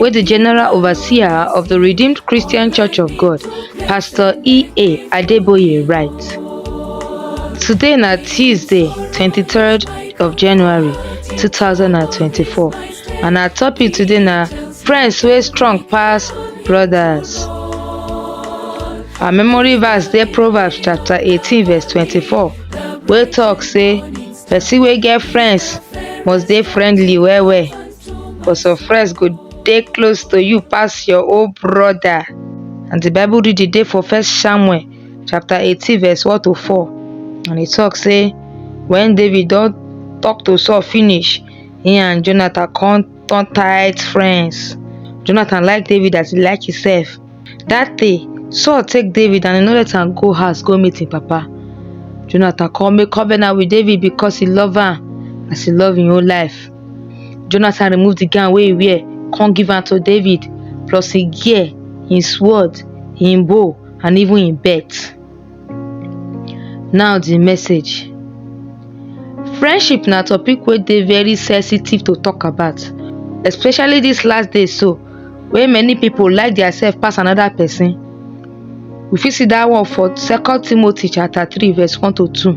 wey di general overseer of di redeemed christian church of god pastor ea adeboye write today na tuesday twenty three of january two thousand and twenty four and our topic today na friends wey strong pass brothers our memory verse dey proverbs chapter eighteen verse twenty four wey talk say person wey get friends must dey friendly well well. but some friends go dey close to you pass your own brother. And the Bible read the day for First Samuel chapter 18 verse 1 to 4 and e talk say when David don talk to Saul finish, he and Jonathan come turn tight friends. Jonathan like David as he like himself. Dat day, Saul take David and e no let am go house go meet im papa. Jonathan come make covenant with David because he love am as he love im own life. Jonathan remove the gown wey he wear, come give am to David, plus im gear, im sword, im bow, and even im belt. Now di message, friendship na topic wey dey very sensitive to talk about especially dis last days so wey many pipu like their self pass another person. We fit see dat one for second Timothy chapter three verse one to two.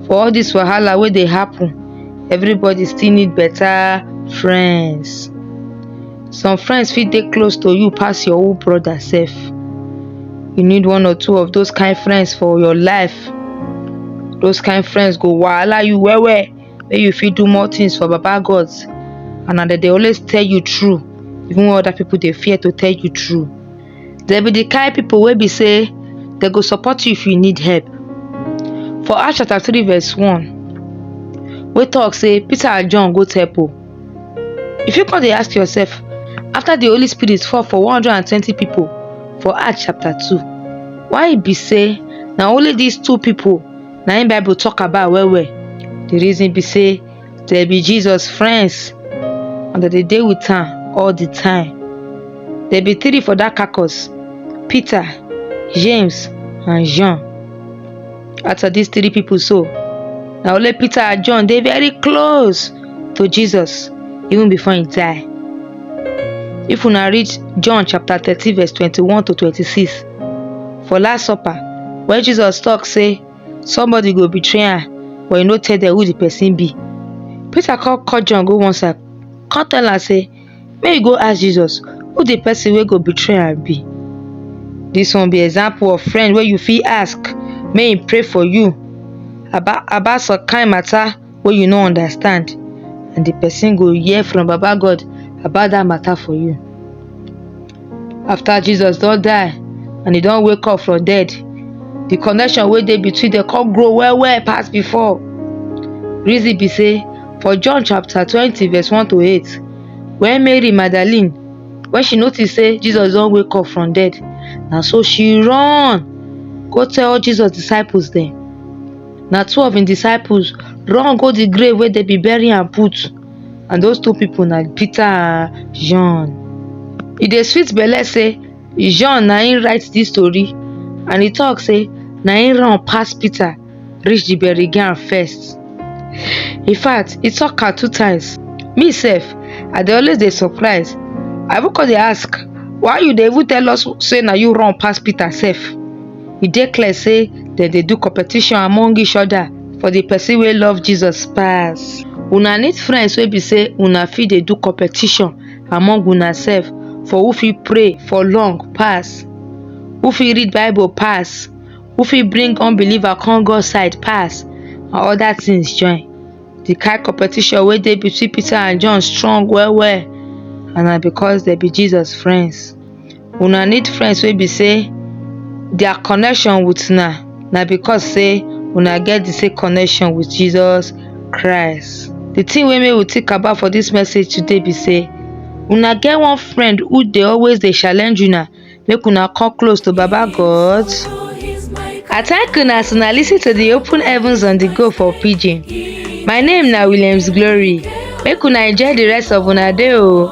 For all dis wahala wey dey happen everybody still need better friends. some friends fit dey close to you pass your own brother sef you need one or two of those kind friends for your life those kind friends go wahala you well well make you fit do more things for baba god and na dem dey always tell you true even when other people dey fear to tell you true dem be the kind people wey be say dem go support you if you need help for acts chapter three verse one wey talk say peter and john go temple You fit come dey ask yourself, after the Holy Spirit fall for 120 people for Acts chapter 2, why e be say na only these two people na im Bible talk about well well? The reason be say dem be Jesus friends and dem dey dey with am all the time. There be three for that carcass, Peter, James and John. Out of these three people so, na only Peter and John dey very close to Jesus even before he die. If una read John chapter thirteen verse twenty-one to twenty-six for last supper when Jesus talk say somebody go betray am but he no tell them who the person be. Peter come call John go one side come tell am say Make you go ask Jesus who the person wey go betray am be. This one be example of friend wey you fit ask make him pray for you about about some kind matter wey you no understand and the person go hear from Baba God about that matter for you. after jesus don die and he don wake up from dead the connection wey dey between them come grow well well pass before reason be say for john chapter twenty verse one to eight when mary magdalene when she notice say jesus don wake up from dead na so she run go tell jesus disciples dem na two of him disciples run go the grave wey dem be bury am put and those two people na Peter and John. E dey sweet belle say John na him write this story and he talk say na him run pass Peter reach the bury ground first. In fact, he talk am two times. Me sef, I dey always dey surprise. I even come dey ask, why you dey even tell us say na you run pass Peter sef? e dey clear sey dem dey do competition among each other for the person wey love Jesus pass. Una need friends wey be sey una fit dey do competition among una self for who fit pray for long pass, who fit read bible pass, who fit bring unbeliever come God side pass and other things join. The kind competition wey dey between Peter and John strong well well and na because dem be Jesus friends. Una need friends wey be sey their connection with una na because sey una get the same connection with Jesus Christ. The thing wey make we think about for this message today be sey una get one friend who dey always dey challenge una make una come close to Baba God. I thank una as una listen to the open heavens on the go for pidgin. My name na Williams Glory. Make una enjoy the rest of una day o.